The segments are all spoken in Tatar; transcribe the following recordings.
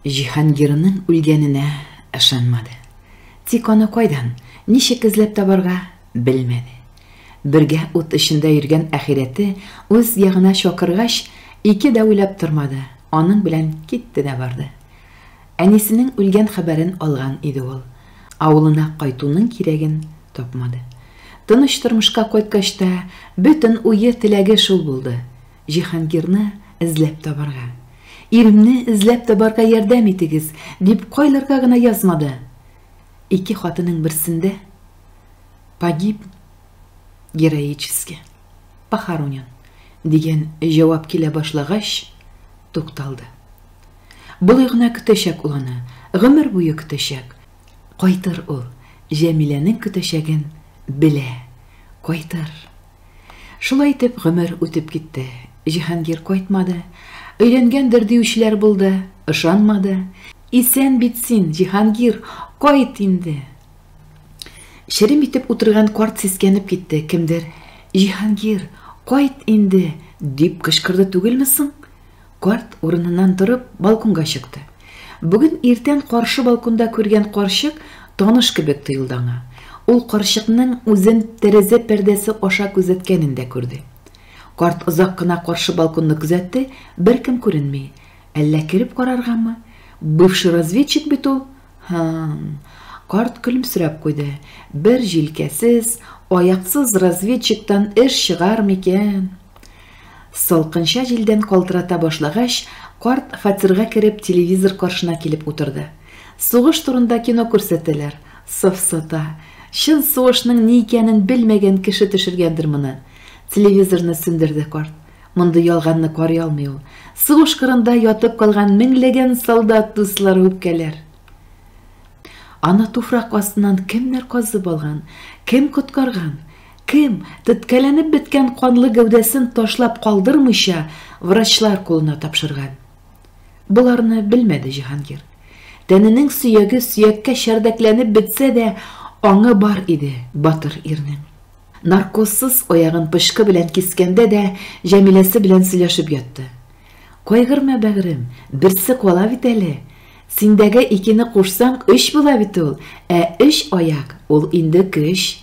Җиһангирның үлгәненә ышанмады. Тик аны кайдан, ничек эзләп табарга, белмәде. Бергә ут эчендә йөргән ахирәте үз ягына чакыргач, ике дә уйлап тормады, аның белән китте дә барды. Әнисенең үлгән хәбәрен алган иде ул. Авылына кайтуның кирәген тапмады. Тыныч тормышка кайткач та, бөтен уе-теләге шул булды. Җиһангирны эзләп табарга. Иремне эзләп табарга ярдәм итегез, дип кайларга гына язмады. Ике хатының берсендә погиб героически, похоронен дигән җавап килә башлагач, тукталды. Болай гына көтәчәк ул аны, гомер буе көтәчәк. Кайтыр ул, Җәмиләнең көтәчәген белә, кайтыр. Шулай итеп гомер үтеп китте. Җиһангир кайтмады. Өйләнгәндер диючеләр булды, ышанмады. Исән бит син, Җиһангир, кайт инде! Черем итеп утырган карт сискәнеп китте, кемдер, Җиһангир, кайт инде! дип кычкырды түгелме соң? Карт, урыныннан торып, балконга чыкты. Бүген иртән каршы балконда күргән карчык таныш кебек тоелды аңа. Ул карчыкның үзен тәрәзә пәрдәсе аша күзәткәнен дә күрде. Карт озак кына каршы балконны күзәтте, беркем күренми. Әллә кереп караргамы? Бывший разведчик бит ул. Һы-м. Карт көлемсерәп куйды. Бер җилкәсез, аяксыз разведчиктан эш чыгар микән? Салкынча җилдән калтырата башлагач, карт, фатирга кереп, телевизор каршына килеп утырды. Сугыш турында кино күрсәтәләр. Сафсата. Чын сугышның ни икәнен белмәгән кеше төшергәндер моны. Телевизорны сүндерде карт. Мондый ялганны карый алмый ул. Сугыш кырында ятып калган меңләгән солдат дуслары үпкәләр. Аны туфрак астыннан кемнәр казып алган, кем коткарган? Кем, теткәләнеп беткән канлы гәүдәсен ташлап калдырмыйча, врачлар кулына тапшырган? Боларны белмәде Җиһангир. Тәненең сөяге сөяккә чәрдәкләнеп бетсә дә, аңы бар иде батыр ирнең. Наркозсыз аягын пычкы белән кискәндә дә Җәмиләсе белән сөйләшеп ятты. Кайгырма, бәгърем, берсе кала бит әле. Синдәге икене кушсаң, өч була бит ул, ә өч аяк, ул инде көч.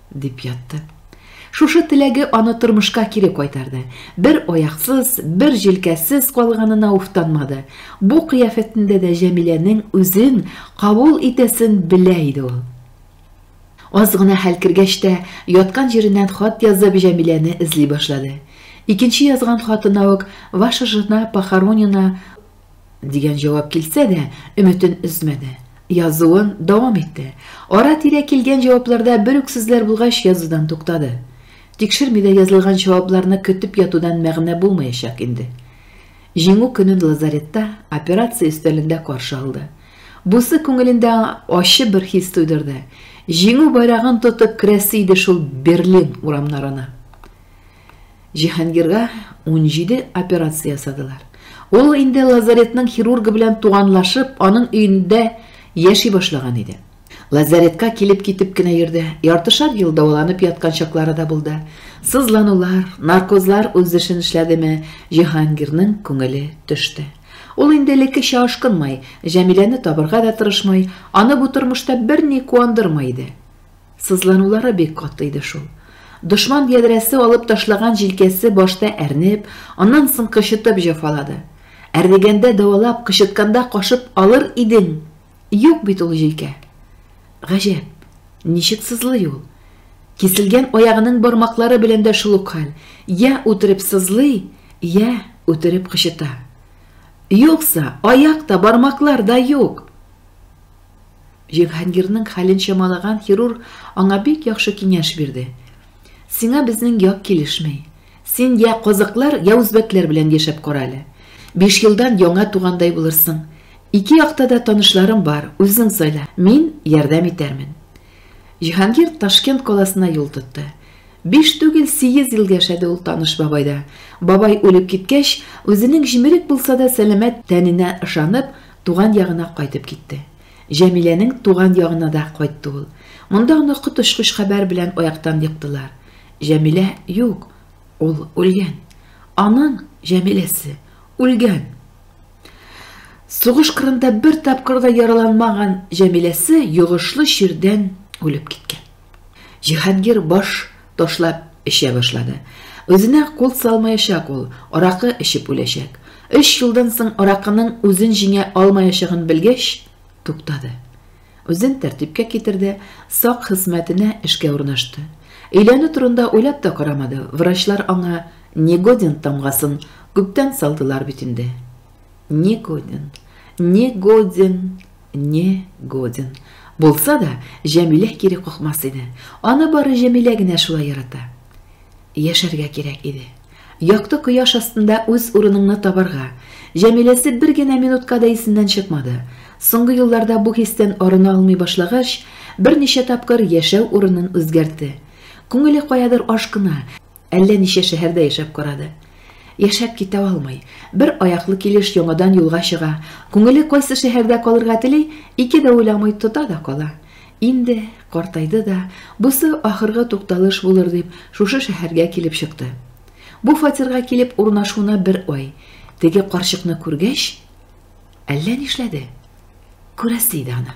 Дип ятты. Шушы теләге аны тормышка кире кайтарды. Бер аяксыз, бер җилкәсез калганына уфтанмады. Бу кыяфәтендә дә Җәмиләнең үзен кабул итәсен белә иде ул. Аз гына хәл кергәч тә, яткан җиреннән хат язып Җәмиләне эзли башлады. Икенче язган хатына ук Ваша жена похоронена Дигән җавап килсә дә, өметен өзмәде. Язуын дәвам итте. Ара-тирә килгән җавапларда бер үк сүзләр булгач, язудан туктады. Тикшерми дә язылган җавапларны көтеп ятудан мәгънә булмаячак инде. Җиңү көнен лазаретта, операция өстәлендә каршы алды. Бусы күңелендә ачы бер хис тойдырды. Җиңү байрагын тотып керәсе иде шул Берлин урамнарына. Җиһангирга унҗиде операция ясадылар. Ул инде лазаретның хирургы белән туганлашып, аның өендә яши башлаган иде. Лазаретка килеп-китеп кенә йөрде. Яртышар ел дәваланып яткан чаклары да булды. Сызланулар, наркозлар үз эшен эшләдеме, Җиһангирның күңеле төште. Ул инде элеккечә ашкынмай, Җәмиләне табырга да тырышмай, аны бу тормышта берни куандырмый иде. Сызланулары бик каты иде шул. Дошман ядрәсе алып ташлаган җилкәсе башта әрнеп, аннан соң кычытып җәфалады. Әрнегәндә дәвалап, кычытканда кашып алыр идең, юк бит ул җилкә. Гаҗәп, ничек сызлый ул? Киселгән аягының бармаклары белән дә шул ук хәл, йә үтереп сызлый, йә үтереп кычыта. Юкса, аяк та, бармаклар да юк! Җиһангирның хәлен чамалаган хирург аңа бик яхшы киңәш бирде. Сиңа безнең як килешми. Син йә казакълар, йә үзбәкләр белән яшәп кара әле. Биш елдан яңа тугандай булырсың. Ике якта да танышларым бар, үзең сайла. Мин ярдәм итәрмен. Җиһангир Ташкент каласына юл тотты. Биш түгел, сигез ел яшәде ул таныш бабайда. Бабай үлеп киткәч, үзенең җимерек булса да сәламәт тәненә ышанып, Туган ягына кайтып китте. Җәмиләнең туган ягына да кайтты ул. Монда аны коточкыч хәбәр белән аяктан йыктылар. Җәмилә юк, ул үлгән. Аның, Җәмиләсе, үлгән. Сугыш кырында бер тапкыр да яраланмаган Җәмиләсе йогышлы чирдән үлеп киткән. Җиһангир баш ташлап эчә башлады. Үзенә кул салмаячак ул, аракы эчеп үләчәк. Өч елдан соң аракының үзен җиңә алмаячагын белгәч, туктады. Үзен тәртипкә китерде, сак хезмәтенә эшкә урнашты. Өйләнү турында уйлап та карамады, врачлар аңа Негодин тамгасын күптән салдылар бит инде. Не годен, не годен, не годен. Булса да, Җәмилә кире какмас иде. Аны бары Җәмилә генә шулай ярата. Яшәргә кирәк иде. Якты кояш астында үз урыныңны табарга. Җәмиләсе бер генә минутка да исеннән чыкмады. Соңгы елларда бу хистән арына алмый башлагач, берничә тапкыр яшәү урынын үзгәртте. Күңеле каядыр ашкына, Әллә ничә шәһәрдә яшәп карады. Яшәп китә алмый. Бер аяклы килеш яңадан юлга чыга. Күңеле кайсы шәһәрдә калырга тели, ике дә уйламый тота да кала. Инде картайды да, бусы ахыргы тукталыш булыр дип, шушы шәһәргә килеп чыкты. Бу фатирга килеп урнашуына бер ай. Теге карчыкны күргәч, әллә нишләде. Күрәсе иде аны.